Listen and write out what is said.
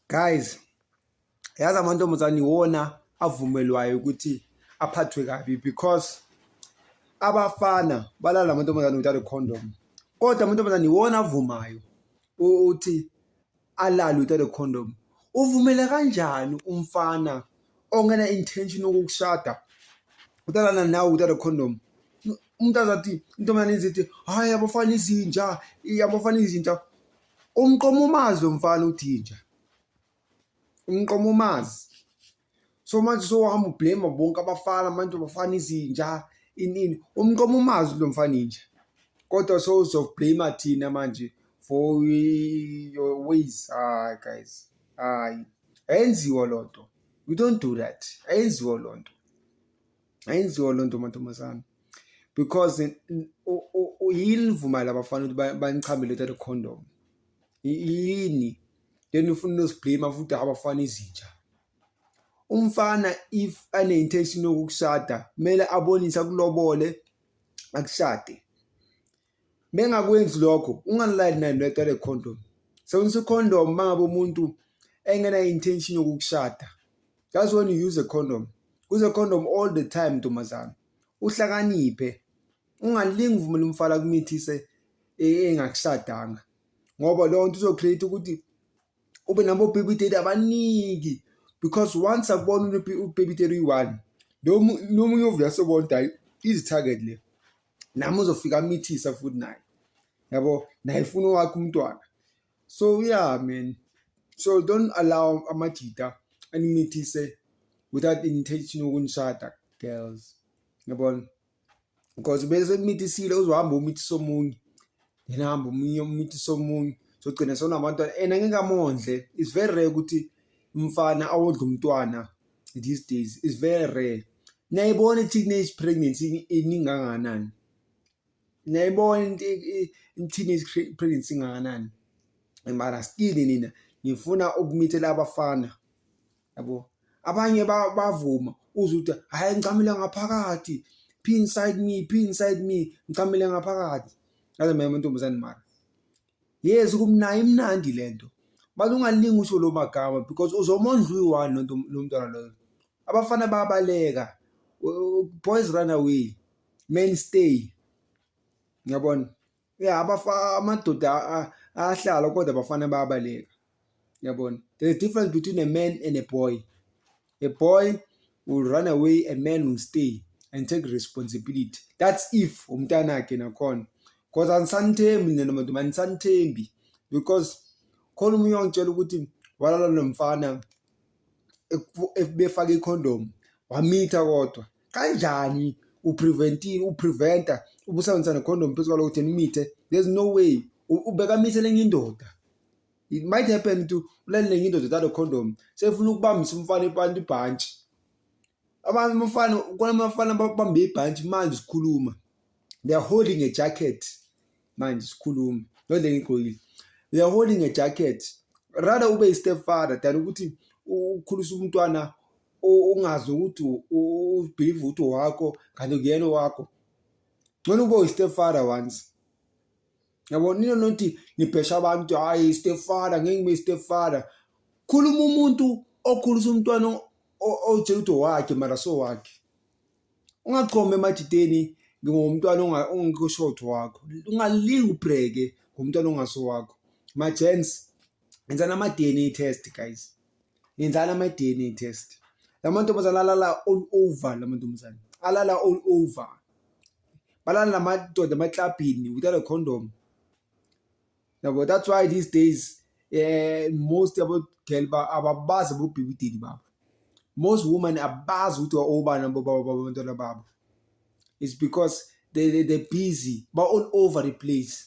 Guys, yazi amantombazane iwona avumelwayo ukuthi aphathwe kabi because abafana balala amantombazane without a condom. Kodwa amantombazane iwona avumayo ukuthi alale without a condom. Uvumela kanjani umfana ongena intention yokukushada utalana nawe without a condom? Umuntu azathi intombazane izithi hayi abafana izinja, abafana izinja. Umqoma umazi lo mfana uthinja umqoma umazi so manje sohamba ublame bonke abafana manje abafana izinja inini umqoma umazi lo mfana inja kodwa so uzoblame thina manje for your ways ah guys hayi ayenziwa lonto we don't do that ayenziwa lonto ayenziwa loo nto mantombazana because yini nivumale abafana ukuthi banichamele uthathe condom yini then ufuna unoziblame futhi abafana izinja umfana if ane-intention yokukushada kumele abonise akulobole akushade Mengakwenzi lokho ungalali naye noyaqale condom. Sebenzisa icondom mangabe umuntu engena intention yokukushada. That's when you use a condom. Use a condom all the time ntombazana. Uhlakaniphe. Ungalingi uvumela umfala kumithise e, engakushadanga. Ngoba leyo nto izocreate ukuthi ube nabo baby daddy abaningi because once akubona ubaby daddy uyi-one nomunye ovula sobona ukuthi hayi izi-target le nami uzofika amithisa futhi naye yabo naye funa wakhe umntwana so yeah man so don't allow amajita animithise without intention yokunishada girls yabona because bese kumithisile uzohamba umithisa omunye yena hamba omunye umithisa omunye sogcina sona abantwana and angeke amondle it's very rare ukuthi umfana awondla umntwana these days is very rare niyayibona i-teenage pregnancy ininganganani niyayibona i-teenage pregnancy inganganani mara still nina ngifuna ukumithela abafana yabo abanye bavuma uze ukuthi hhayi ngicamile ngaphakathi phi inside me phi inside me ngicamile ngaphakathi ngaze mema ntombazane mara Yes kumnayo imnandi le nto but ungalingi usho lo magama because uzomondla uyi-one lonto lo mntwana loyo abafana bayabaleka boys run away men stay ngiyabona ya amadoda ahlala kodwa abafana bayabaleka Yabona? There's a difference between a man and a boy. A boy will run away, a man will stay and take responsibility. That's if umntanakhe nakhona. Because anisanithembi nina nabantu manisanithembi because khona umunye wangitshela ukuthi walala nomfana befake icondom wamitha kodwa kanjani upreventile upreventa ubusebenzisa necondom phezu kwalokuthi nimithe there's no way ubeka mithe lenye indoda it might happen ukuthi ulalele ngindoda thatha condom sefuna ukubambisa umfana ipanti ibhantshi abantu abafana kona abafana babambe ibhantshi manje sikhuluma they are holding a jacket manje sikhuluma not le ngigqokile they are holding a jacket rather ube i-step father than ukuthi ukhulisa umntwana ungazi ukuthi ubhilive ukuthi wakho kanti kuyena wakho ngcono ube uyi-step father once yabo nina nothi nibhesha abantu hhayi stepfather ngeke ngibe stepfather khuluma umuntu okhulisa umntwana otshela ukuthi owakhe mara so wakhe ungachome emadideni ngingumntwana ongekho short wakho ungalingi ubhreke ngumntwana ongaso wakho ma-gens yenzani ama-dna test guys yenzani ama-dna test la mantombazane alala all over la mantombazane alala all over balala namadoda emaklabhini without a condom yabo that's why these days eh most yabo girl ba ababazi bobhibidini babo most women abazi ukuthi obani abantwana babo it's because they, they, they're busy ba all over the place